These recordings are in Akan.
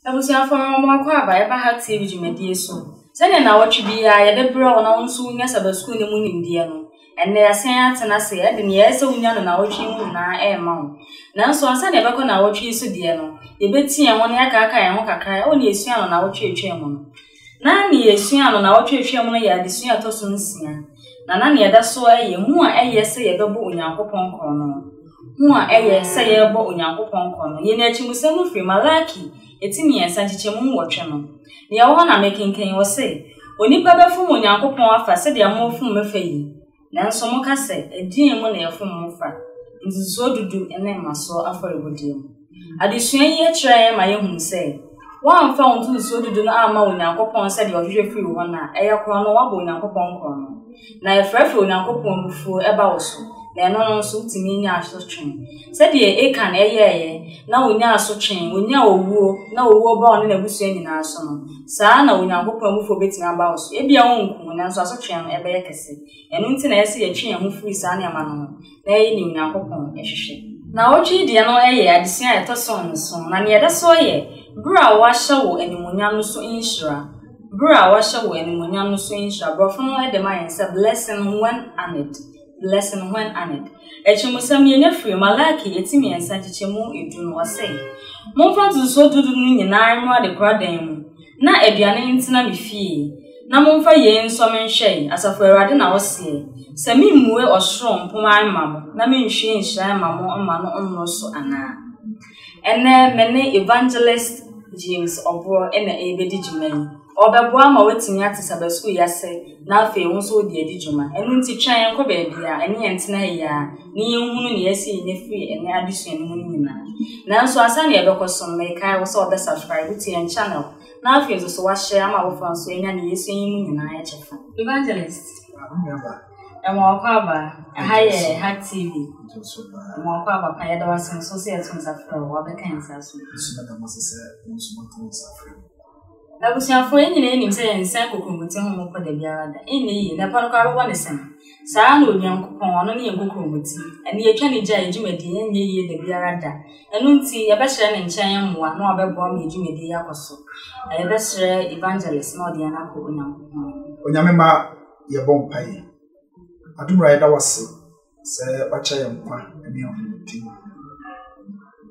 Abusuafo no, wɔn akɔ aba ɛba ha TV dwumadie so. Sɛdeɛ nnawɔtwe biara yɛde brɛ wo na wo nso wonya Saba Sukuu no mu nimdeɛ no, ɛnnɛ yɛasan atena ase de nea ɛsɛ wonya no nnawɔtwe yi mu nyinaa rema wo. Nanso ansa na yɛbɛkɔ nnawɔtwe yi so deɛ no, yɛbɛtie yɛn ho na yɛakaakae yɛn ho kakra wɔ nea yɛsuaa no nnawɔtwe a ɛtwaam no. Ná nea yesuaa no nnawɔtwe a etwaam no yɛ adesua a ɛtɔ so nsia, na na nea ɛda so ara yɛ hu a ɛyɛ sɛ yɛbɛbɔ Onyankopɔn korɔno. Hu a ɛyɛ sɛ yɛrebɔ Onyankopɔn korɔno. Yɛn akyimosɛm no firi Malaki ti mmiɛnsa, nkyekyɛmu nwɔtwe no. Nea ɛwɔ hɔ na merekenkan yi, wɔse, Onipa bɛfom Onyankopɔn afa sɛdeɛ moafom me fa yi, Nanso moka sɛ, 'Ɛdeɛn mu na yɛfom mo fa ntotosoɔ dudu ne mmasoɔ afɔrebɔdeɛ mu? Adesua yi kyerɛ yɛn ma yɛhunu sɛ, woamfa wo ntotosoɔ dudu no amma Onyankopɔn sɛdeɛ ɔhwehwɛ firi wo hɔ no a, ɛyɛ korɔno, woabɔ Onyankopɔn korɔno, na ɛfrɛfrɛ Onyankopɔn abufuo ba wo so, na ɛno no nso, wotumi nya asotwe. Sɛdeɛ Akan yɛeɛ na ɔnyaa asotwe, ɔnyaa owuo, na owuo baa ɔne n'abusua nyinaa so no, saa ara na Onyankopɔn abufuo bɛtumi aba wo so. Ebia ɔrenku wo, nanso asotwe no bɛyɛ kɛse. Ɛno nti na ɛyɛ sɛ yɛtwe yɛn ho firi saa nneɛma no ho na yɛyɛ deɛ Onyankopɔn hwehwɛ. Naawɔtwe yi deɛ no yɛ adesua a ɛtɔ so nson, na nea ɛda so yɛ Bere a Wɔahyɛ Wo Animuonyam no So Nhyira. Bere a Wɔahyɛ Wo Animuonyam no So Nhyira, Borɔfo no de ma yɛn sɛ Blessing When Honored. Blessing Hwan Aned. Akyerɛmusɛm, Yɛnya firi Malaki eti mmiɛnsa nkyekyɛmu edu no, ɔse, Momfa ntotosoɔ dudu no nyinaa mmra adekoradan mu, na aduane ntena me fie, na momfa yei nsɔ me nhwɛe, Asafo Awurade na ɔseɛ, sɛ memmue ɔsoro mpoma mma mo, na menhwie nhyira mma mo mma no mmoro so anaa. Ɛnnɛ, me ne Evangelist James Ɔborɔ na ɛrebɛdi dwuma yi. Ɔbɛboa ma woatumi ate sabasukuu yi ase na afei wo nso wode adi dwuma. Ɛno nti, twɛn yɛn kɔ baabi a ɛne yɛn tena yi ara na yɛnhunu nea asi yɛn afiri ɛnnɛ adesua no mu no nyinaa. Nanso ansa na yɛbɛkɔ so no, mekae wo sɛ wɔbɛsubscribe to yɛn channel na afei nso so wɔahyɛ ama afoforɔ nso anya nea yɛasua yi mu nyinaa kyɛfa. Evangelist, Ɛmmoawakɔ aba, ɛha yɛ Hack TV. Ɛmmoawakɔ aba pa, yɛda wo ase nso sɛ yɛto nsa frɛ wo, wabɛka yɛn nsa so. Abusuafo, yɛn nyinaa nim sɛ yɛnsɛn kokuromoti ho mmokɔ da biara da. Ɛnyɛ yie, na ɛpɔ no koraa bɛbɔ ne sɛn. Saa ara na Onyankopɔn, ɔno ne yɛn kokuromoti. Ɛno yɛtwa ne gyae, yɛn dwumadie nyɛ yie da biara da. Ɛno nti, yɛbɛsrɛ ne nkyɛn mmoa na wabɛboa ma yɛn dwumadie yi akɔ so. Yɛbɛsrɛ Evangelist na ɔde yɛn akɔ Onyankopɔn anim. Onyame mma yɛbɔ mpaeɛ. Adom wura yɛda wo ase. sɛ wakyɛ yɛn nkwa ne ahomete mu,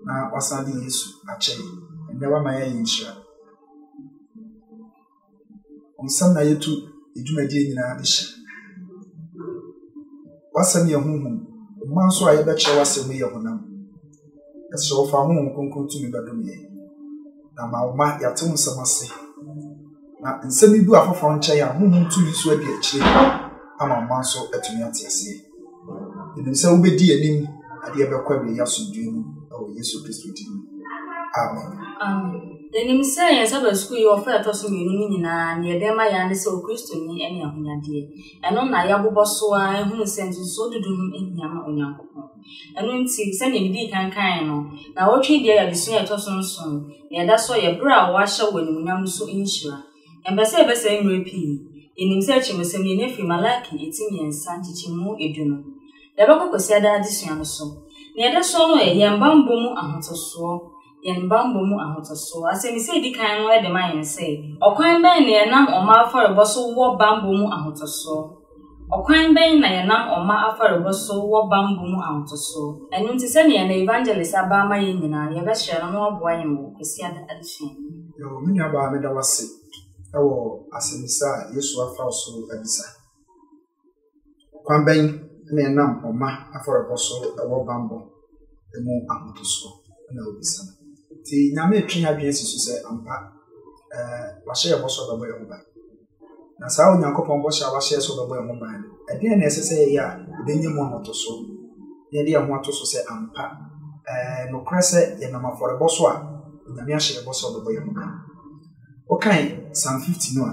na wasan de Yesu akyɛ yɛn. Ɛnnɛ wama yɛayɛ nhyira. Nsɛm na yɛtu dwumadie nyinaa de hyɛ. W'asɛm yɛ honhom, mma nso a yɛbɛkyerɛ w'asɛm yɛ honam. Ɛsrɛ wo fa honhom kronkron tumi bɛdom yɛn na ma wo ma yɛate wo nsɛm ase na nsɛm yi du afoforɔ nkyɛn a honhom tumi so adi akyire ama wo ma nso atumi ate aseɛ ɛnim sɛ wobɛdi anim adeɛ bɛkɔ awieyi asomdwoe mu ɛwɔ yesu kristo din mu amen ɛnim sɛ yɛn saba sukuu yi ɔfa ɛtɔ so mmienu no nyinaa ne yɛde ma yɛa ne sɛ okristoni ne ahonyadeɛ ɛno na yɛbobɔ so a ɛhunu sɛ nsusuo dodo ho ahia ma onyankopɔn Ɛno nti, sɛnea midii kan kae no, nnawɔtwe yi deɛ yɛ adesua a ɛtɔ so nson, na ɛda so yɛ bere a wɔahyɛ wɔ animuonyam no so nhyira. Yɛmpɛ sɛ yɛbɛsɛe mmere pii. Yenim sɛ akyerɛwsɛm yi, ɛna firi Malaki ti mmiɛnsa, nkyekyɛmu edu no. Yɛbɛkɔ Kwasiada adesua no so. Nea ɛda so no yɛ yɛn bammɔ mu ahotosoɔ. yɛn bammɔ mu ahotoso. Asɛmmisa a edi kan no de ma yɛn sɛ, Ɔkwan bɛn na yɛnam ɔma afɔrebɔ so wɔ bammɔ mu ahotoso? Ɔkwan bɛn na yɛnam ɔma afɔrebɔ so wɔ bammɔ mu ahotoso? Ɛno nti, sɛnea yɛn evangelist aba ama yɛn nyinaa, yɛbɛsrɛ no na waboa yɛn wɔ Kwasiada adesua yi mu. Yoh. Me nuabaa, meda wo ase wɔ asɛmmisa a Yesu afa wo so abisa. Ɔkwan bɛn na ɛnam ɔma afɔrebɔ so wɔ bammɔ mu ahotoso? na obisa. Nti Nyame retwe adwene si so sɛ ampa wahyɛ yɛn bɔ so ɔbɛbɔ yɛn ho ban. Na saa Onyankopɔn bɔhyɛ a wahyɛ so ɔbɛbɔ yɛn ho ban no, ɛdeɛn na ɛsɛ sɛ yɛyɛ a ɛbɛnya mu ahotoso na yɛde yɛn ho ato so sɛ ampa nokorɛ sɛ yɛnam afɔrebɔ so a Nyame ahyɛ yɛn bɔ sɛ ɔbɛbɔ yɛn ho ban. Wokan Psalm 50 no a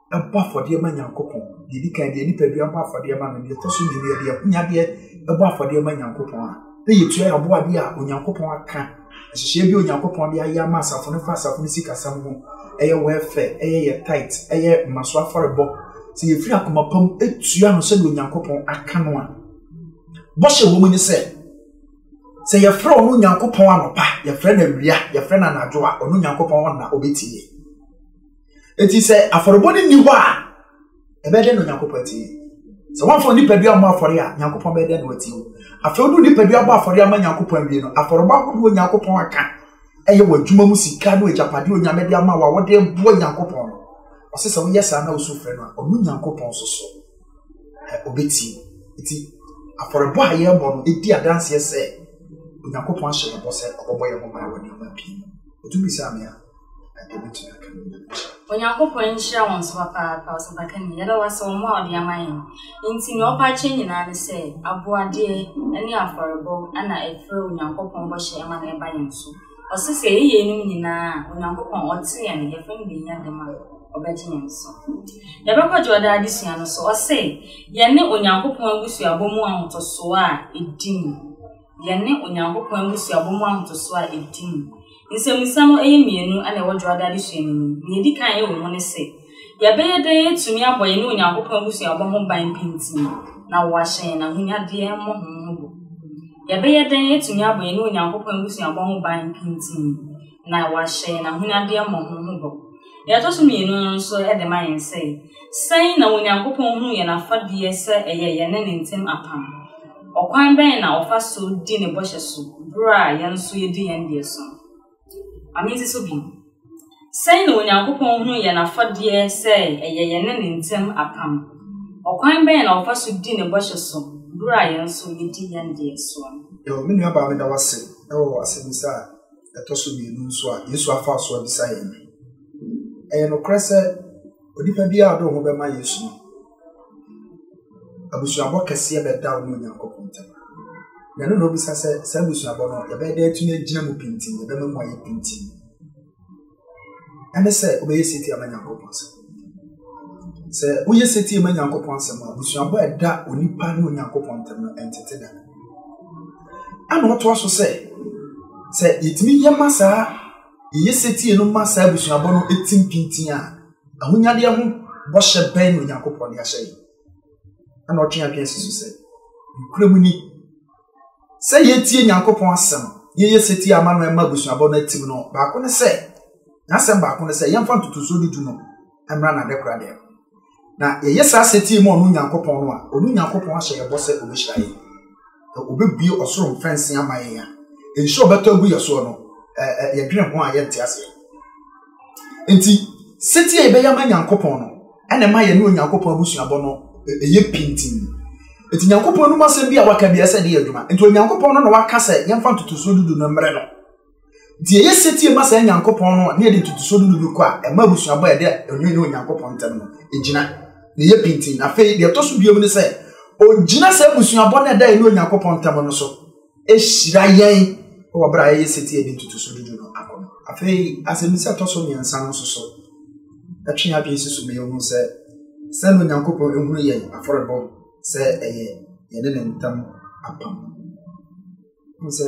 ɛbɔ afɔdeɛ ma nyankopɔn deɛ ɛdi kan deɛ nipadua bɔ afɔdeɛ ma no deɛ ɛtɔ so mmienu deɛ akonyadeɛ ɛbɔ afɔdeɛ ma nyankopɔn a na yɛtua yɛ aboadeɛ a onyankopɔn aka nhyehyɛeɛ bi onyankopɔn de ayɛ ama asafo no fa asafo no sikasɛm ho ɛyɛ wɛfɛ ɛyɛ yɛ tit ɛyɛ mmaso afɔrebɔ sɛ yɛfiri akoma pam ɛtua no sɛdeɛ onyankopɔn aka no a bɔhyɛ wɔ mu ne sɛ sɛ yɛfrɛ ɔno onyankopɔn anɔpa yɛfrɛ no awia yɛfrɛ no anadwo a ɔno onyankopɔn ɔnna ɔbɛtie Enti sɛ afɔrebɔ no nni hɔ a, ɛbɛyɛ dɛ na Onyankopɔn atie. Sɛ wɔamfa nipadua ammɔ afɔre a, Nyankopɔn bɛyɛ dɛ na watie wo. Afei wode nipadua abɔ afɔre ama Nyankopɔn awie no, afɔrebɔ ahodoɔ Nyankopɔn aka ɛyɛ w'adwuma mu sika ne agyapadeɛ Onyame de ama wo a wɔde boa Nyankopɔn no. Ɔse sɛ woyɛ saa na wosu frɛ no a, ɔno Nyankopɔn nso so ɔbɛtie wo. Enti afɔrebɔ a yɛbɔ no ɛdi adanseɛ sɛ Onyankopɔn ahyɛ yɛbɔ sɛ ɔbɛbɔ yɛn ho ban wɔ nneɛma pii mu. Ɔtumi bisaa me a, Onyankopɔn nhyira wɔn so papaapa, ɔsapakani. Yɛda wo ase wɔ mmoa a wode ama yɛn. Enti nea ɔpa akyɛ nyinaa ne sɛ, aboadeɛ ne afɔrebɔ na ɛfrɛ Onyankopɔn bɔhyɛ ma no ba yɛn so. Ɔse sɛ yɛyɛ yeinom nyinaa a, Onyankopɔn a ɔte yɛn no, yɛfrɛ no bɛnya dam a, ɔbɛgye yɛn so. Yɛbɛkɔ Dwoɔda adesua no so. Ɔse yɛne Onyankopɔn abusuabɔ mu ahotosoɔ a ɛdi mu. Yɛne Onyankopɔn abusuabɔ mu ahotosoɔ a ɛdi mu. Nsɛmmisa no yɛ mmienu na ɛwɔ Dwoada adesua no mu. Nea edi kan wɔ mu ne sɛ, Yɛbɛyɛ dɛn atumi abɔ yɛne Onyankopɔn abusuabɔ ho ban pintinn na wɔahyɛ yɛn ahonyadeɛ mmɔho ho bɔ? Yɛbɛyɛ dɛn atumi abɔ yɛne Onyankopɔn abusuabɔ ho ban pintinn na wɔahyɛ yɛn ahonyadeɛ mmɔho ho bɔ? Nea ɛtɔ so mmienu no nso de ma yɛn sɛ, Sɛn na Onyankopɔn hunu yɛn afadeɛ sɛ ɛyɛ yɛne ne ntam apam? Ɔkwan bɛn na ɔfa so di ne bɔhyɛ so bere a yɛn nso yedi yɛn deɛ so no? Ma minsi so bi. Sɛn na Onyankopɔn hu yɛn afɔdeɛ sɛ ɛyɛ yɛne ne ntam apam? Ɔkwan bɛn na ɔfa so di ne bɔhyɛ so bere a yɛn nso yedi yɛn deɛ soɔ no? Yoh. Me nuabaa, meda wo ase wɔ asɛmmisa a ɛtɔ so mmienu nso a Yesu afa so abisa yɛn no. Ɛyɛ nokorɛ sɛ onipa biara a ɔde ne ho bɛma Yesu no, abusuabɔ kɛseɛ bɛda wo ne Onyankopɔn ntam. Na ɛno na obisa sɛ saa abusuabɔ no yɛbɛyɛ dɛ atumi agyina mu pintin, yɛbɛma mu ayɛ pintin. Ɛne sɛ wobɛyɛ setie ama Nyankopɔn asɛm. Sɛ woyɛ setie ma Nyankopɔn asɛm a, abusuabɔ a ɛda onipa ne Onyankopɔn ntam no ɛntete da. Ɛna ɔtoa so sɛ, sɛ yɛtumi yɛ ma saa yɛyɛ setie no ma saa abusuabɔ no ɛtim pintin a, Ahonyadeɛ ho bɔhyɛ bɛn na Onyankopɔn de ahyɛ yɛn? Ɛna ɔtwe adwene si so sɛ, nokorɛ mu ni, sɛ yɛtie Nyankopɔn asɛm, yɛyɛ setie ama no ɛma abusuabɔ no atim no, baako ne sɛ, n'asɛm baako ne sɛ, yɛmfa ntotosoɔ dudu no mmra n'adekora dɛm. Na yɛyɛ saa setie ma ɔno Nyankopɔn no a, ɔno Nyankopɔn ahyɛ yɛbɔ sɛ ɔbɛhyira yɛn. na ɔbɛbue ɔsoro mfɛnsee ama yɛn a, nhyira ɔbɛtɔ agu yɛ soɔ no, yɛdwene ho a yɛnte aseɛ. Nti, setie a yɛbɛyɛ ama Nyankopɔn no, ɛna ɛma yɛne Onyankopɔn abusuabɔ no ɛyɛ pintin. Nti, Nyankopɔn anom asɛm bi a waka bi ɛsɛ de yɛ adwuma. Nti, Onyankopɔn no na waka sɛ yɛmfa ntotosoɔ dudu no mmerɛ no. Nti ɛyɛ setie ma saa Nyankopɔn no a ne yɛde ntotosoɔ dudu no kɔ a ɛma abusuabɔ a ɛda ɔne ne Onyankopɔn ntam no ɛgyina na ɛyɛ pintin. Afei deɛ ɛtɔ so biom ne sɛ ɔgyina saa abusuabɔ no a ɛda yɛne Onyankopɔn ntam no so ɛhyira yɛn wɔ berɛ a yɛyɛ setie de ntotosoɔ dudu no akɔ no. Afei asɛmmisa ɛtɔ so mmiɛnsa no nso so ɛtwe yɛn adwene si so ma yɛhu sɛ sɛn na Onyankopɔn ɛhunu yɛn afɔrebɔ sɛ ɛyɛ yɛne ne ntam apam. Hu sɛ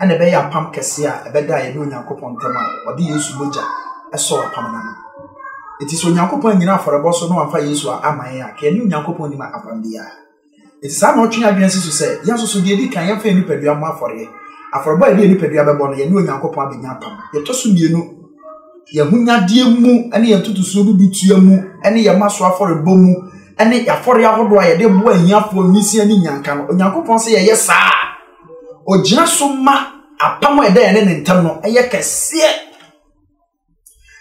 ɛna ɛbɛyɛ apam kɛse a ɛbɛda yɛne Onyankopɔn ntam a ɔde Yesu mogya ɛsɔɔ apam no ano. Eti sɛ Onyankopɔn annyina afɔrebɔ so na wamfa Yesu a ama yɛn a, ka yɛne Onyankopɔn nnim apam biara. Eti saa na ɔtwe adwene si so sɛ yɛn nso so deɛ edi kan yɛmfa yɛn nipadua mmɔ afɔreɛ. Afɔrebɔ a yɛde yɛn nipadua bɛbɔ no, yɛne Onyankopɔn abɛnya apam. Deɛ ɛtɔ so mmienu, yɛn ahonyadeɛ mu ne yɛn ntotosoɔ dudutua mu ne yɛn maso afɔrebɔ mu ne afɔreɛ ahodoɔ a yɛde boa ahiafoɔ nwisiaa ne nnyanka no, Onyankopɔn sɛ yɛyɛ saa a, Ɔgyina so ma apam a ɛda yɛne ne ntam no yɛ kɛseɛ.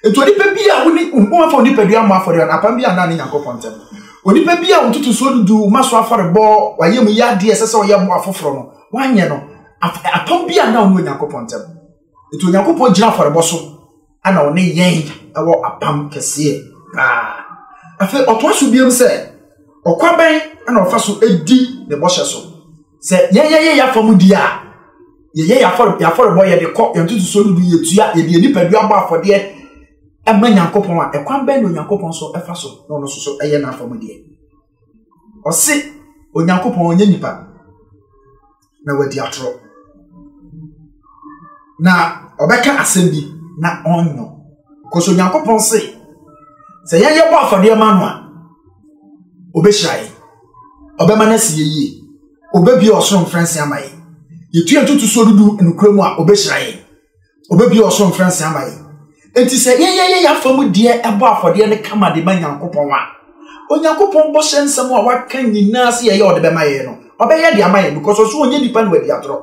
Nti onipa bi a wone wɔmfa onipadua mmɔ afɔdeɛ no apam bi anna ne Nyankopɔn ntam. Onipa bi a ntotosoɔ dudu ma so afɔrebɔ wayɛ mu yɛ adeɛ ɛsɛ sɛ ɔyɛ mmoa afoforɔ no wanyɛ no apam bi anna ɔne Onyankopɔn ntam. Nti Onyankopɔn gyina afɔrebɔ so ana ɔne yɛn ɛwɔ apam kɛseɛ paa. Afei ɔtoa so biom sɛ ɔkwa bɛn ɛna ɔfa so edi ne bɔhyɛ so. Sɛ yɛn yɛyɛ yɛafa mu di a yɛyɛ yɛafɔrebɔ yɛde kɔ yɛn ntotosoɔ no du yɛtua yɛde yɛn nipadua bɔ afɔdeɛ ɛma Nyankopɔn a ɛkwan bɛn na Onyankopɔn so ɛfa so na ɔno nso so ɛyɛ n'afa mu deɛ. ɔse onyankopɔn ɔnyɛ nipa na wadi atorɔ na ɔbɛka asɛm bi na ɔnyɔ kɔsɛ onyankopɔn se sɛ yɛyɛ bɔ afɔdeɛ ma no a ɔbɛhyira yɛ ɔbɛma no asi yɛyie ɔbɛbie ɔsoro mfrɛnse ama yɛ yɛtua ntotosoɔ dudu nokorɛ mu a ɔbɛhyira yɛ ɔbɛbie ɔsoro mfranse ama yɛn enti sɛ yɛyɛyɛ yɛafa mu deɛ ɛbɔ afɔdeɛ no kama de ma nyankopɔn a onyankopɔn bɔhyɛ nsɛm a waka nyinaa sɛ yɛyɛ ɔde bɛma yɛn no ɔbɛyɛ de ama yɛn because ɔso ɔnyɛ nipa na wadi atorɔ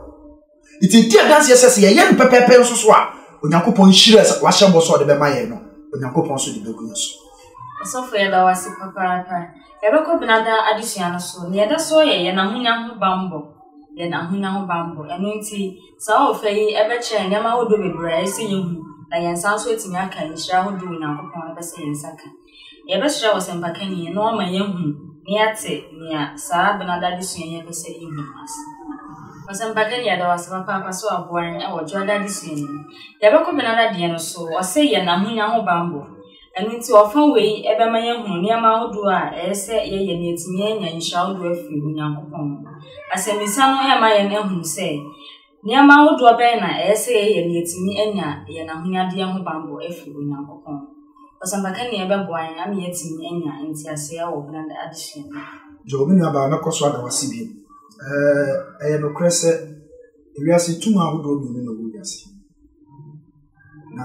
nti di adanseɛ sɛ sɛ yɛyɛ no pɛpɛɛpɛ nso so a onyankopɔn hyira sɛ wahyɛ bɔ sɛ ɔde bɛma yɛn no onyankopɔn so de bɛgu yɛn so asɔfo yɛda wo ase papaapa yɛbɛkɔ benada adesua no so nea ɛda so yɛ yɛn ahonya ho bammɔ yɛn ahonya ho bammɔ ɛno nti Saa ɔfã yi bɛkyerɛ nneɛma ahodoɔ bebree a ɛsɛ yɛhu na yɛn nsa nso atumi aka nhyira ahodoɔ a Onyankopɔn pɛ sɛ yɛn nsa ka. Yɛbɛsrɛ ɔsɛmpakani na wama yɛahu na yɛate nea saa Benada adesua yi pɛ sɛ yɛhu no ase. Ɔsɛmpakani, yɛda wo ase papaapa sɛ woaboa yɛn wɔ Dwoada adesua no mu. Yɛbɛkɔ Benada deɛ no so, ɔse yɛ na ahonya ho bammɔ. Ɛno nti, ɔfã wei bɛma yɛahu nneɛma ahodoɔ a ɛyɛ sɛ yɛyɛ na yɛatumi anya nhyira ahodoɔ afiri Onyankopɔn hɔ. Asɛmmisa no rema yɛn ahunu sɛ, nneɛma ahodoɔ bɛn na ɛyɛ sɛ yɛyɛ na yɛatumi anya yɛn ahonyadeɛ ho bammɔ afiri Onyankopɔn hɔ? Ɔsɛmpakani a ɛbɛboa yɛn ama yɛatumi anya nteaseɛ wɔ hena adesua no mu? Joe, me nuabaa, mɛkɔ so ada wo ase bio. Ɛyɛ nokorɛ sɛ wiase tum ahodoɔ mmienu na ɛwɔ wiase yi. Na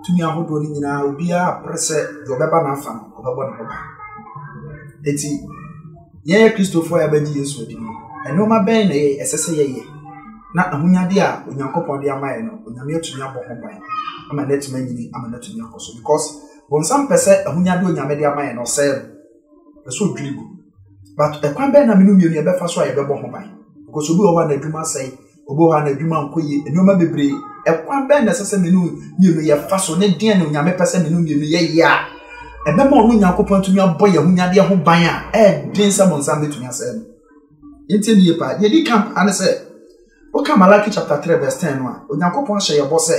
tumi ahodoɔ no nyinaa obiara pere sɛ deɛ ɔbɛba n'afa no ɔbɛbɔ ne ho ban eti yɛyɛ kristofoɔ a yɛbɛgye yesu adi no nneɛma bɛn na yɛ ɛsɛ sɛ yɛyɛ na ahonyade a onyankopɔn de ama yɛ no onyame atumi abɔ ho ban ama no atumi anyini ama no atumi akɔ so because bɔnsam pɛ sɛ ahonyade onyame de ama yɛ no ɔsɛe no pɛ sɛ odwiri gu but ɛkwan bɛn na menu mmienu yɛbɛfa so a yɛbɛbɔ ho ban because obi wɔ hɔ a n'adwuma sɛe Obi wɔ hɔ a n'adwuma nkɔ yie, nneɛma bebree. Ɛkwan bɛn na ɛsɛ sɛ me ne wo mmienu yɛfa so ne deɛn na Onyame pɛ sɛ me ne wo mmienu yɛyɛ a ɛbɛma ɔno Onyankopɔn atumi abɔ yɛn honyadeɛ ho ban a ɛɛden sɛ bɔnsam bɛtumi asɛe no. Yɛntie ne yie paa. Deɛ ɛdi kan paa ne sɛ, woka Malaki chapter 3 verse 10 no a, Onyankopɔn ahyɛ yɛbɔ sɛ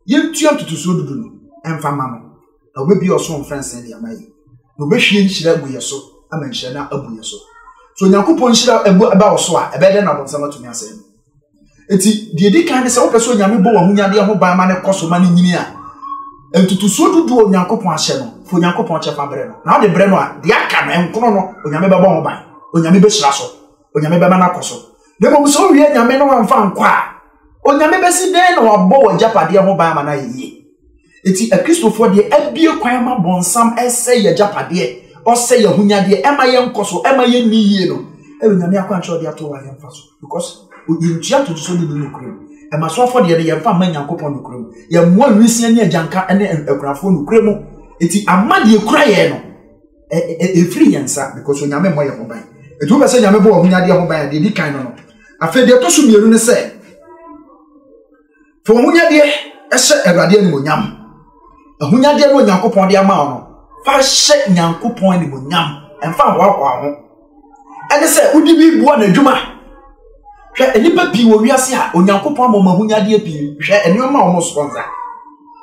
Yentua ntotosoɔ dudu no mfa mma no, na ɔbɛbue ɔsoro mfɛnsee de ama yɛn, na ɔbɛhwie nhyira agu yɛn so ama nhyira no abu yɛn so. So Onyankopɔn nhyira ba wo so a, ɛbɛyɛ dɛn na abɔnsam atumi asɛe no? Enti, deɛ ɛdi kan ne sɛ wopɛ sɛ Onyame bɔ w'ahonyadeɛ ho ban ma no kɔ so ma no nyini a, ntotosoɔ dudu a Onyankopɔn ahyɛ no, fa Onyankopɔn kyɛfa brɛ no. Na wode brɛ no a, deɛ aka no, ɛnkono no, Onyame bɛbɔ ho ban, Onyame bɛhyira so, Onyame bɛma no akɔ so. Na mmom sɛ owie anyame no amfa ankɔ a, onyame bɛsi dɛn na wabɔ w'agyapadeɛ ho ban ama no ayɛ yie? Enti Akristofoɔ deɛ abue kwan ma bɔnsam ɛsɛ yɛ agyapadeɛ, ɔsɛ yɛ ahonyadeɛ, ɛma yɛ nkɔ so, ɛma yɛ nni yie no, ɛyɛ onyame akwankyerɛ ɔde ato hɔ a yɛ mfa so. Because yɛ ntua totoso ne ni nokorɛ mu. Ɛma so afɔdeɛ no yɛ mfa mma Nyankopɔn nokorɛ mu. Yɛ mmoa nwisiɛ ne agyanka ne akunafoɔ nokorɛ mu. Enti ama deɛ ɛkura yɛn no. ɛfiri yɛn nsa because onyame mmɔ yɛn ho ban ɛti wobɛ sɛ nyame bɔ wɔn nyadeɛ ho ban a deɛ di kan no no afei deɛ ɛtɔ so mmienu ne sɛ fa wɔn nyadeɛ ɛhyɛ awurade animonyam ahonyadeɛ no onyankopɔn de ama no fa hyɛ nyankopɔn animonyam ɛmfa ahoahoa ho ɛne sɛ wode bi boa n'adwuma hwɛ nnipa pii wɔ wiase a onyankopɔn ama wɔn ahonyadeɛ pii hwɛ nneɛma a wɔn sponsor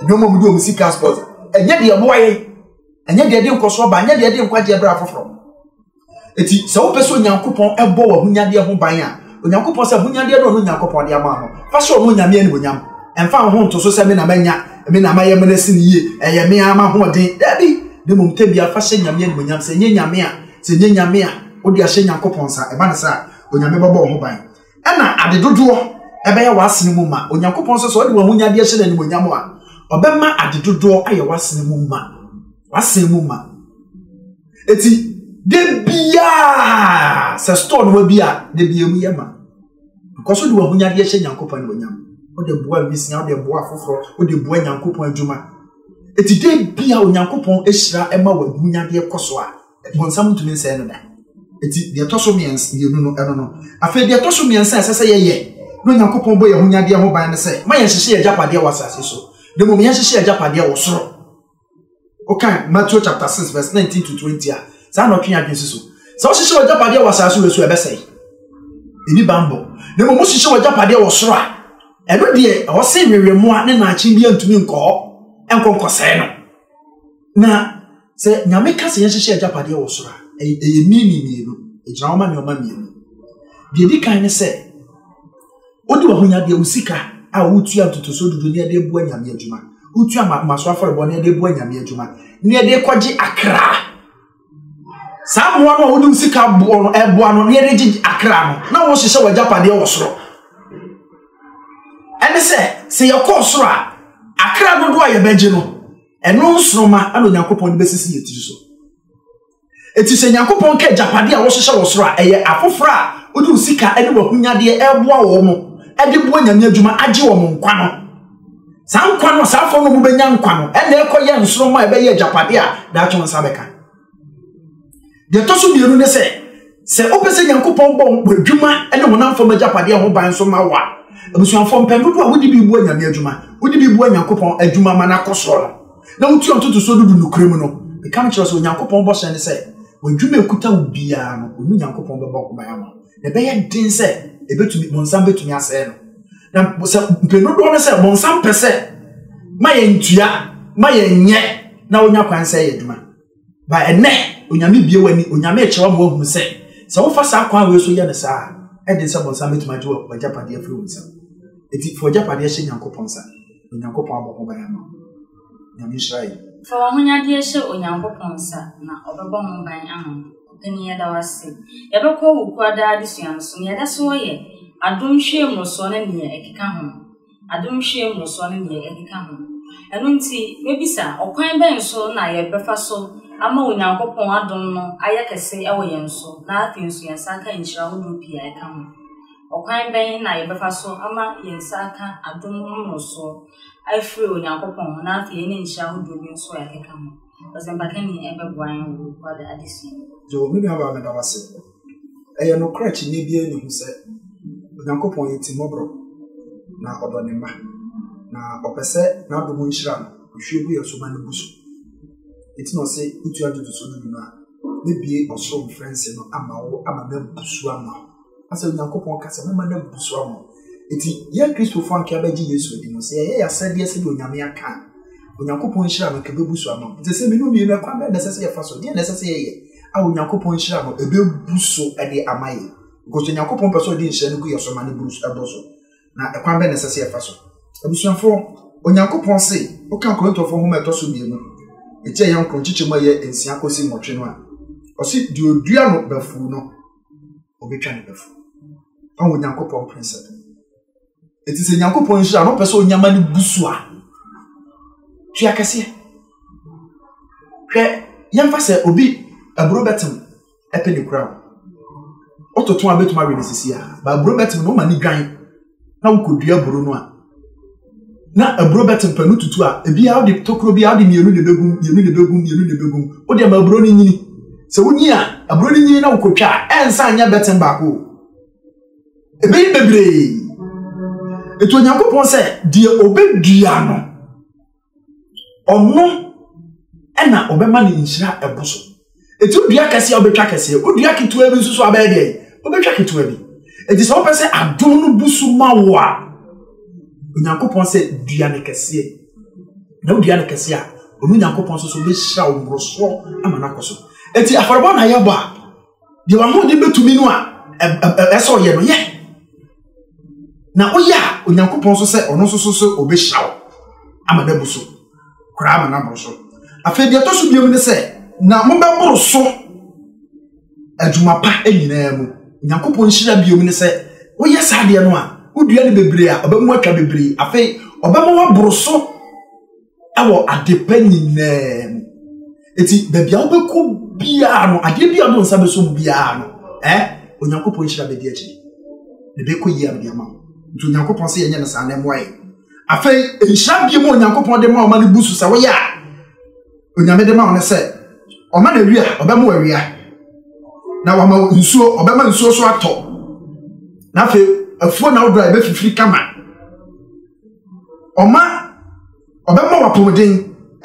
nneɛma a wɔde wɔn sika sponsor ɛnyɛ deɛ ɛboa yɛn ɛnyɛ deɛ ɛde nkɔsoɔ ba ɛnyɛ deɛ ɛde nkwagyeɛ berɛ afoforɔ ɛti sɛ wopɛ sɛ onyankopɔn ɛbɔ wɔ ahonyadeɛ ho ban a onyankopɔn sɛ ahonyadeɛ no ɔno onyankopɔn de ama no fa sɛ ɔno onyame animonyam ɛmfa ho nto so sɛ me na manya me na mayɛ mene sene yie ɛyɛ me a mahoɔden daabi ne mmom tɛbia fa hyɛ nyame animonyam sɛ ɛnyɛ nyame a sɛ ɛnyɛ nyame a wode ahyɛ nyankopɔn nsa ɛba ne sɛ a onyame bɛbɔ wo ho ban Ɛna ade dodoɔ ɛbɛyɛ w'asene mu ma. Onyankopɔn nso sɛ ɔde w'ahonyadeɛ hyɛ no animuonyam a, ɔbɛma ade dodoɔ ayɛ w'asene mu ma. W'asene mu ma. Eti, da biara sɛ store no wabi a, da bi emu yɛ ma. Because wode w'ahonyadeɛ hyɛ Nyankopɔn animuonyam. Wode boa nwisia, wode boa afoforɔ, wode boa Nyankopɔn adwuma. Eti, da biara Onyankopɔn ahyira ɛma w'ahonyadeɛ kɔ so a, Bonsam ntumi nsɛe no da. Eti deɛ ɛtɔ so mmiɛnsa mmienu no ɛno no. Afei deɛ ɛtɔ so mmiɛnsa a ɛsɛ sɛ yɛyɛ na Onyankopɔn bɔ yɛn ahonyadeɛ ho ban no sɛ ma yɛnhyehye yɛn agyapadeɛ wɔ asase so na mmom yɛnhyehye yɛn agyapadeɛ wɔ soro. Wokan Matthew chapter six verse nineteen to twenty a saa na ɔtwe yɛn adwene si so. Sɛ wohyehyɛ w'agyapadeɛ wɔ asase wɔ so a ɛbɛsɛe. Ɛni bammɔ. Na mmom wohyehyɛ w'agyapadeɛ wɔ soro a ɛno deɛ ɛwɔ se nwewemmoa ne naakye bi antumi nkɔ hɔ nkɔ nkɔsɛe no. Na sɛ Nyame ka sɛ yɛnhyehyɛ agyapadeɛ wɔ soro a, ɛyɛ mini mmienu, ɛgyina hɔ ma nneɛma mmienu. Deɛ ɛdi kan ne sɛ, wode w'ahonyadeɛ, wo sika a wotua ntotosoɔ dudu ne ɛde boa Nyame adwuma, wotua maso afɔrebɔ ne ɛde boa Nyame adwuma, ne ɛde kɔgye akra. Saa mmoa no a wode wo sika boɔ no, ɛboa no, ne ɛde gye akra no, na wohyehyɛ w'agyapadeɛ wɔ soro. Ɛne sɛ, sɛ yɛkɔɔ soro a, akra dodoɔ a yɛbɛgye no, Ɛno nsoromma na Onyankopɔn de bɛsisi yɛn tiri so. Eti sɛ Nyankopɔn ka agyapade a wɔhyehyɛ wɔ soro a, ɛyɛ afoforo a wode wo sika ne w'ahonyadeɛ ɛreboa wɔn mo de boa nyame adwuma agye wɔn nkwa no. Saa nkwa no, saa afɔ no mobɛnya nkwa no, ɛna ɛkɔyɛ nsoromma a ɛbɛyɛ agyapade a daakye wɔn nsa bɛka. Deɛ ɛtɔ so mmienu ne sɛ, sɛ wopɛ sɛ Nyankopɔn bɔ w'adwuma ne honam fam agyapadeɛ ho ban nso ma wo a, abusuafoɔ mpɛn dodoɔ a wode bi bua Nyame adwuma, wode bi bua Nyankopɔn adwuma ma no akɔ soɔ no, na wotua ntotosoɔ dudu nokorɛ mu no, meka mekyerɛ wo sɛ Onyankopɔn bɔhyɛ ne sɛ, w'adwuma a ɛkuta wo biara no, ɔno Nyankopɔn bɛbɔ ho ban ama wo, na ɛbɛyɛ den sɛ ɛbɛtumi, bonsam bɛtumi asɛe no. Na sɛ mpɛn dodoɔ no sɛ, bonsam pɛ sɛ ma yɛntua, ma yɛnyɛ, na wonya kwan sɛ yɛ adwuma. Ba ɛnnɛ, Onyame bue w'ani, Onyame rekyerɛ wo ama woahunu sɛ, sɛ wofa saa kwan wei so yɛ no saa a, ɛden sɛ bɔnsam bɛtumi agye w'agyapadeɛ afiri wo nsam. Enti fa w'agyapadeɛ hyɛ Nyankopɔn nsa, na Onyankopɔn abɔ ho ban ama wo. Nyame nhyira yɛn. Fa w'ahonyadeɛ hyɛ Onyankopɔn nsa, na Ɔbɛbɔ ho ban ama wo. Ɔpanin yɛda wo ase. Yɛbɛkɔ Owukuada adesua no so. Nea yɛda so wɔ yɛ, Adom nhwiamu no soɔ ne deɛ ɛkeka ho. adomhwie mmorosoɔ ne deɛ ɛkeka ho. Ɛno nti, mɛbisa, ɔkwan bɛn so na yɛbɛfa so ama Onyankopɔn adom no ayɛ kɛse wɔ yɛn so na afei nso yɛn nsa aka nhyira ahodoɔ pii a ɛka ho? Ɔkwan bɛn na yɛbɛfa so ama yɛn nsa aka adom mmorosoɔ afiri Onyankopɔn hɔ na afei yɛne nhyira ahodoɔ bi nso a ɛkeka ho? Ɔsɛmpakani bɛboa yɛn wɔ Kwada adesua mu. Joe, me nuabaa meda wo ase. Ɛyɛ nokorɛ akyinnye biara nni ho sɛ, Onyankopɔn yɛ timmɔborɔ, na ɔdɔ ne mma, na ɔpɛ sɛ n'adom nhyira a ɔhwie gu yɛn so ma no bu so. Enti na ɔse, Wotu adwene so no bi no a, mɛbue ɔsoro mfɛnsee no ama wo ama no abu so ama wo. Asɛ Onyankopɔn ka sɛ, mɛma no abu so ama wo. Enti, yɛn Kristofo a anka yɛabɛgye Yesu adi no, sɛ yɛyɛ yɛn asɛdeɛ sɛdeɛ Onyame aka a, Onyankopɔn nhyira no anka ɛbɛbu so ama wo. Enti ɛsɛ sɛ mmienu mmienu, ɛkwan bɛn na ɛsɛ sɛ yɛfa so? Deɛn na ɛsɛ sɛ yɛyɛ? a Onyankopɔn nhyira no ɛbɛbu so de ama yɛn. Because Onyankopɔn pɛ sɛ ɔde nhyira no gu yɛn so ma no buru so ɛbɔ so. Na ɛkwan bɛn na ɛsɛ sɛ yɛfa so? Abusuafoɔ, Onyankopɔn se, wokan Korintofoɔ nhoma ɛtɔ so mmienu, ɛti ɛyɛ nkron, nkyekyɛ mu ɛyɛ nsia kɔsi nwɔtwe no a, ɔse, deɛ ɔdua no bafuo no, ɔbɛtwa ne bafuo. Ɔwɔ Onyankopɔn prensɛp. Enti sɛ Nyankopɔn nhyira na ɔpɛ sɛ onyama no bu so a, tua kɛseɛ. Hwɛ, yɛmfa sɛ obi aburo bɛtem ɛpɛ ne kura o. Wototo a bɛtumi awe no sisi a, ba aburo bɛtem na woma ne dwan na wokɔdua aburo no a, na aburo bɛtem pɛ no tutu a, ebiara wode tokuro biara wode mmienu na ɛbɛgum, mmienu na ɛbɛgum, mmienu na ɛbɛgum. Wode ama aburo no nyini. Sɛ wonyi a, aburo no nyini na wokɔtwa a, ɛnsa nyɛ bɛtem baako o. ɛbɛyi bebree ɛtu onyankopɔn sɛ deɛ ɔbɛdua no ɔno ɛna ɔbɛma ne nhyira ɛbo so ɛti wodua kɛseɛ a wobɛtwa kɛseɛ wodua ketewa bi nso so abɛyɛ deɛ wobɛtwa ketewa bi ɛti sɛ wopɛ sɛ adom no bu so ma wo a onyankopɔn sɛ dua no kɛseɛ na wodua no kɛseɛ a ɔno nyankopɔn nso so bɛhyira wo mmorosoɔ ama no akɔ so ɛti afɔrebɔ na yɛbɔ a deɛ w'ahoɔden bɛtumi no a ɛsɛ ɔyɛ no yɛ na woyɛ a onyankopɔn nso sɛ ɔno nso so sɛ ɔbɛhyira wo ama no abu so koraa ma no aboro so afei deɛ ɛtɔ so biom ne sɛ na mobɛboro so adwuma pa nyinaa mu onyankopɔn nhyira biom ne sɛ woyɛ saa deɛ no a wodua no bebree a ɔbɛmu atwa bebree afei ɔbɛma waboro so ɛwɔ adepa nyinaa mu eti baabi a wobɛkɔ biara no adeɛ bi a ɔno nsa bɛso mu biara no ɛ onyankopɔn nhyira bɛdi akyi ne bɛkɔ yie a mede ama wo nti onyankopɔn sɛ yɛnyɛ no saa na ɛmmoa yɛ afei nhyira bie mu onyankopɔn de ma ɔma no bu so sɛ woyɛ a onyame de ma wo no sɛ ɔma no awia ɔbɛma awia na wama nsuo ɔbɛma nsuo so atɔ na afei afuo na wodɔ a ɛbɛfifiri kama ɔma ɔbɛma wo apɔmuden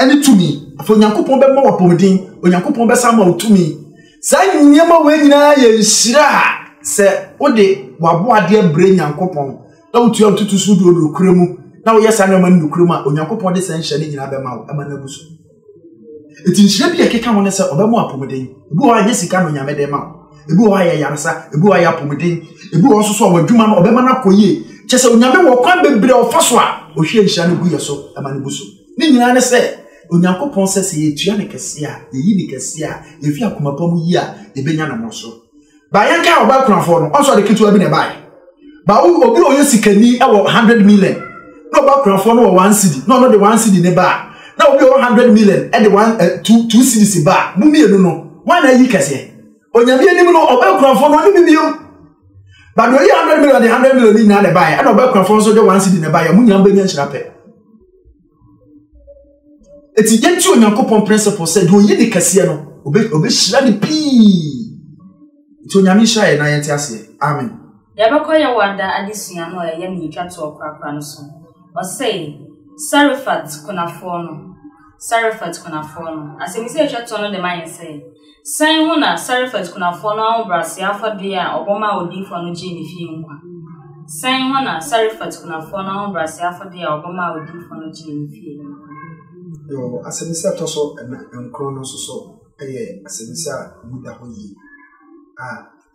ne tumi afei onyankopɔn bɛma wo apɔmuden onyankopɔn bɛsa ma wo tumi saa nneɛma wei nyinaa yɛ nhyira a sɛ wode waboadeɛ brɛ nyankopɔn na wotua wotutu so wode ɔdokura mu na woyɛ saa nneɛma no nokura mu a onyankopɔn de saa nhyɛ no nyinaa bɛma wo ɛma no abu so Eti nhyira bi a ɛkeka ho ne sɛ ɔbɛma wo apɔmuden. Ebi wɔ hɔ a ɛnyɛ sika na Onyame de ma wo. Ebi wɔ hɔ a ɛyɛ yaresa, ebi wɔ hɔ a ɛyɛ apɔmuden, ebi wɔ hɔ nso so a w'adwuma no ɔbɛma no akɔ yie. Kyerɛ sɛ Onyame wɔ kwan bebree a ɔfa so a ɔhwie nhyira no gu yɛn so ma no bu so. Ne nyinaa ne sɛ Onyankopɔn sɛ sɛ yɛtua no kɛse a, yɛyi no kɛse a, yɛhwɛ akoma pa mu yie a, yɛbɛnya ne mmorosoɔ. Ba yɛn kan ɔbaa kunafoɔ no ɔnso ade ketewa bi na ɛbaeɛ ba wo obi ɔyɛ sikani wɔ hundred million na ɔbaa kunafoɔ no wɔ one cedi na ɔno de one cedi ne baa na obi ɔwɔ hundred million de one eh, two two cedis baa mo mmienu no wɔn na ayi kɛseɛ onyame anim no ɔbaa kunafoɔ no ɔne bibiem ba deɛ ɔyɛ hundred million de hundred million ne nyinaa na ɛbaeɛ ɛna ɔbaa kunafoɔ nso de one cedi na ɛbaeɛ mo nyinaa bɛnya nhyira pɛ Eti yɛnti Onyankopɔn principle sɛ deɛ oyi ne kɛseɛ no obe obehyira ne pii. Nti Onyame nhyira yɛn na yɛnte aseɛ. Amen. Yɛbɛkɔ yɛn wada adesua no a ɛyɛ ne etwa toɔ korakora no so. Ɔsɛe, Sarefat kunafoɔ no. Sarefat kunafoɔ no. Asɛmisa a etwa toɔ no de ma yɛn sɛ. Sɛn ho na Sarefat kunafoɔ no ahobrɛaseɛ afɔdeɛ a ɔbɔ maa odiyifoɔ no gyee ne fie nkwa? Sɛn ho na Sarefat kunafoɔ no ahobrɛaseɛ afɔdeɛ a ɔbɔ maa odiyifoɔ no gyee ne fie nkwa? Yo, asɛmmisa a ɛtɔ so nna nkron no nso so yɛ asɛmmisa a emu da hɔ yie a,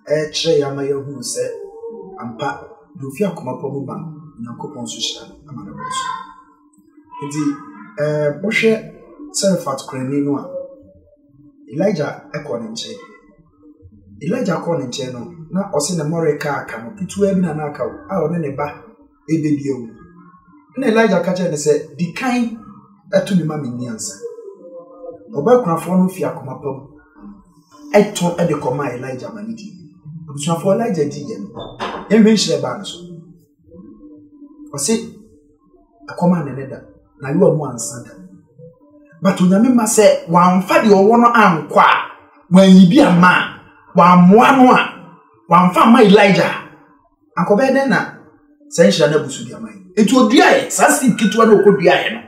rekyerɛ yɛn ama yɛahunu sɛ ampa, deɛ ɔfiri akoma pa mu ba no, Onyankopɔn nso hyira no ma no boro so. Nti, eh, wohwɛ Serefat kurani no a, Elijah kɔɔ ne nkyɛn. Elijah kɔɔ ne nkyɛn no, na ɔse ne mmɔre kaa aka no, ketewa bi na na aka a ɔne ne ba ɛbɛ bi awu. Ɛna Elijah ka kyerɛ no sɛ, di kan ɛto mi ma menni ansa. Ɔbɛkorafoɔ no fi akoma pa mu ɛtɔ ɛde kɔma Elijah ma ne di. Abusuafoɔ Elijah di yɛ no, yɛnhwɛ nhyira ɛbaa no so. Ɔse, ɛkɔm a nene da, na yewa mu ansa da. But onyame ma sɛ, wamfa deɛ ɔwɔ no ankɔ a, wanyi bi ama a, wammoa no a, wamfa ama Elijah Akɔbɛyɛ dɛn na saa nhyira no abu so de ama yɛn? Enti oduaeɛ, saa seed ketewa no ɔkɔduaeɛ no,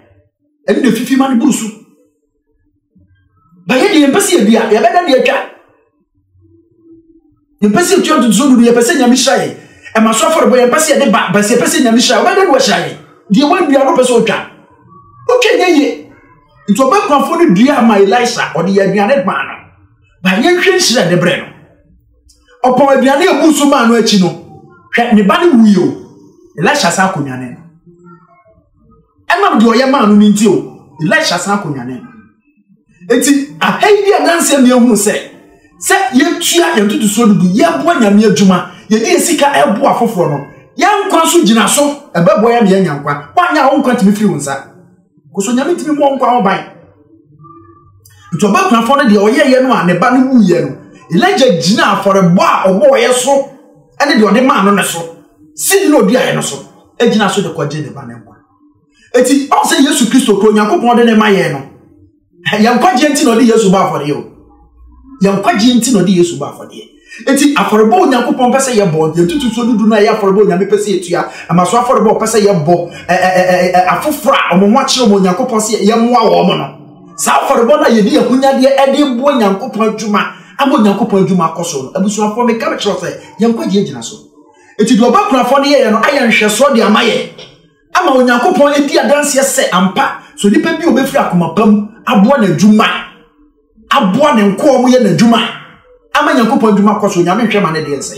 ɛno na ɛfifi ma no buru so. Bayɛ deɛ yɛmpɛ sɛ yɛdua, yɛbɛda deɛ atwa. Yɛmpɛ sɛ yɛtua ntotoso du no, yɛpɛ sɛ Nyame hyira yɛn. Ɛma so afɔrebɔ yɛmpɛ sɛ yɛde ba, bɛsɛ yɛpɛ sɛ Nyame hyira yɛn. Ɔbɛyɛ dɛn na wahyira yɛn? Deɛ wɔadua no pɛ sɛ ɔtwa. Ɔtwa nyɛ yie. Nti ɔbɛkwafoɔ no dua ma Elisa, ɔde yɛ aduane maa no. Bayɛ nhwɛ nhyira a ɛde brɛ no. ɔpaw aduane a ebu so maa no akyi no hwɛ ne ba no wui o elisha san akonnwane no ɛnam deɛ ɔyɛ maa no no nti o elisha san akonnwane no eti aha yi bi a nansi mmea hunu sɛ sɛ yɛtua yɛn tutusuo no bi yɛboa nyame adwuma yɛde yɛ sika ɛboa afoforɔ no yɛn nkwa so gyina so ɛbɛboa yɛn na yɛanya nkwa wɔanya wɔn nkwa tumi firi wɔn nsa. koso nyame tumi mmɔ nkwa ho ban nti ɔbakunafoɔ no deɛ ɔyɛeɛ no a ne ba no wuiɛ no elija gyina afɔrebɔ a ɔbɔɔeɛ so ne deɛ ɔde maa no no so sini na ɔduaeɛ no so gyina so de kɔgye ne ba no nkwa ɛti ɔsɛ yesu kristo kɔ onyankopɔn de ne ma yɛn no yɛn nkwagyeɛ nti na ɔde yesu bɔ afɔdeɛ o yɛn nkwagyeɛ nti na ɔde yesu bɔ afɔdeɛ eti afɔrebɔ onyankopɔn pɛ sɛ yɛbɔ yɛtutu so dudu no a ɛyɛ afɔrebɔ onyame pɛ sɛ yɛtua ɛma so afɔrebɔ ɔpɛ sɛ yɛbɔ afoforɔ a wɔn ho akyerɛ wɔn onyankopɔn sɛ yɛmmoa wɔn no saa afɔrebɔ no a yɛde ahonyadeɛ ɛde boa nyankopɔn adwuma ama onyankopɔn adwuma akɔ so no abusuafoɔ meka mekyerɛ sɛ yɛn nkwagyeɛ gyina so eti deɛ ɔba kurafoɔ no yɛyɛ no ayɛ nhwɛsoɔ de ama yɛ ama Onyankopɔn adi adanseɛ sɛ ampa sɛ onipa bi a ɔbɛfiri akoma pa mu aboa n'adwuma aboa ne nkoa ɔmo yɛ n'adwuma ama Nyankopɔn adwuma kɔ so Nyame nhwɛ ma ne deɛ nsɛ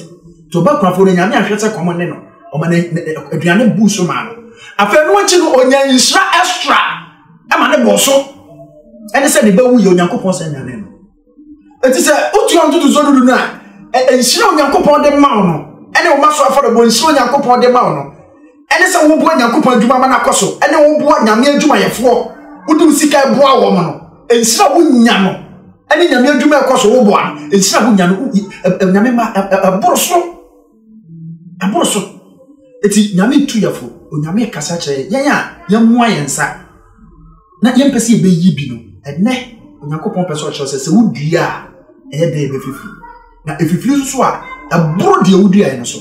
nti ɔba kunafoɔ no Nyame ahwɛ sɛ kɔm ne no ɔma ne aduane buu so maa no afei no akyi no ɔnya nhyira extra ɛma ne bɔɔ so ɛne sɛ ne ba wuyɛ Onyankopɔn sɛ nyane no Enti sɛ wotua ntotosoɔ dudu no a, nhyira Onyankopɔn de ma wo no, ɛne wo ma so afɔrebɔ nhyira Onyankopɔn de ma wo no, ɛne sɛ woboa Nyankopɔn adwuma ma no akɔ so, ɛne woboa Nyame adwumayɛfoɔ, wode wo sika boa wɔn no, nhyira wonya no, ɛne Nyame adwuma ɛkɔ so woboa no, nhyira wonya no, Nyame ma ɛboro so. ɛboro so eti nyame tu yɛfo onyame kasa kyerɛ yɛn a yɛmmoa yɛn nsa na yɛmpɛ sɛ yɛbɛyi bi no ɛnɛ onyankopɔn pɛ sɛ ɔkyerɛ sɛ sɛ wodua a ɛyɛ dɛ yɛbɛfifiri na ɛfifiri nso a ɛboro deɛ woduaeɛ no so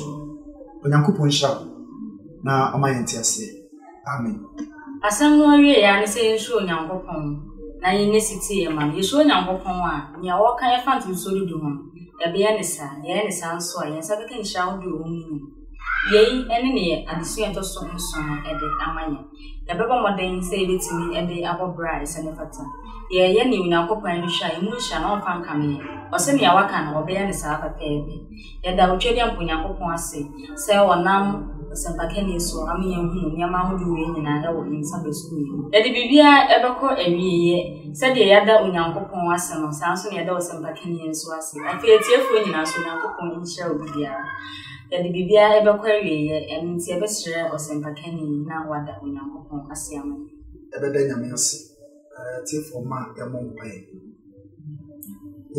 onyankopɔn nhyira wo na ɔma yɛn te aseɛ Amen. Asɛm no awiei ara ne sɛ yɛnsuro Onyankopɔn na yɛnyɛ setie ma no. Yɛsuro Onyankopɔn a, nea ɔka yɛfa mfomsoɔ dudu ho no, yɛbɛyɛ no saa. Yɛyɛ no saa nso a, yɛn nsa bɛka nhyira ahodoɔ a ɛwɔ mu no nyinaa. Yei ne nea adesua a ɛtɔ so nson no de ama yɛn. Yɛbɛbɔ mmɔden sɛ yɛbɛtumi de abɔ bra a ɛsɛ ne fata. Yɛyɛ nea Onyankopɔn ani hwɛ a, emu nhyira no ɔmfa nkame yɛn. Ɔse nea waka no, ɔbɛyɛ no saa pɛpɛɛpɛ. Yɛda Twam bɔ Nyankopɔn ase sɛ ɔnam ɔsɛmpakani so ama yɛahunu nneɛma ahodoɔ wei nyinaa wɔ yɛn nsabeso mmienu. Yɛde biribiara bɛkɔ awieeɛ. Sɛdeɛ yɛada Onyankopɔn ase no, saa ara nso na yɛda ɔsɛmpakani yi nso ase. Afei atiefoɔ nyinaa nso, Onyankopɔn nhyira obi biara. Yɛde biribiara bɛkɔ awieeɛ, ɛno nti yɛbɛsrɛ ɔsɛmpakani yi na wada Onyankopɔn ase ama yɛn. Yɛbɛda Nyame ase. atiefo mma yɛmmɔ mpae.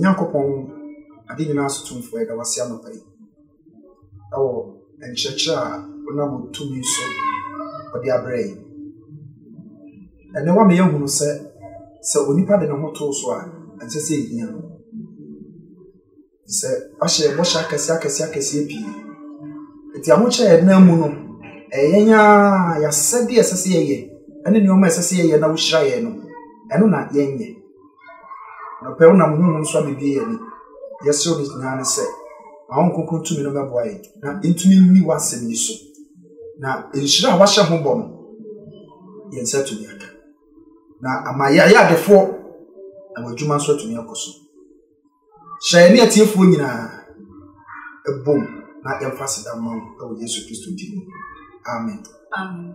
Nyankopɔn ade nyinaa so tumfo yɛda wase anɔpa yi. Ɛwɔ nkyerɛkyerɛ a wonam tumi so ɔde abrɛ yi. Ɛnɛ wa meyɛ hunu sɛ sɛ onipa de ne ho too so a ɛnsɛ sɛ ehia no. sɛ wahyɛ yɛn bɔhyɛ akɛseɛ akɛseɛ akɛseɛ pii nti ahokyerɛ yɛn nan mu no ɛyɛ yɛn ara yɛasɛdeɛ ɛsɛ sɛ yɛyɛ ɛne nneɛma ɛsɛ sɛ yɛyɛ na wohyira yɛn no ɛno na yɛnyɛ nɔpɛ wonam honhom so abɛbie yɛn ani yɛsrɛ no nyinaa no sɛ ma wo nkonkron tumi no mɛboa yɛn na ntumi nni w'asɛm yi so na nhyira a wahyɛ ho bɔ no yɛn nsa tumi aka na ama yɛayɛ adefoɔ na w'adwuma nso atumi akɔ so Hyira yɛne atiefoɔ nyinaa bom na yɛmfa aseda mma wo wɔ Yesu Kristo din mu. Amen. Amen.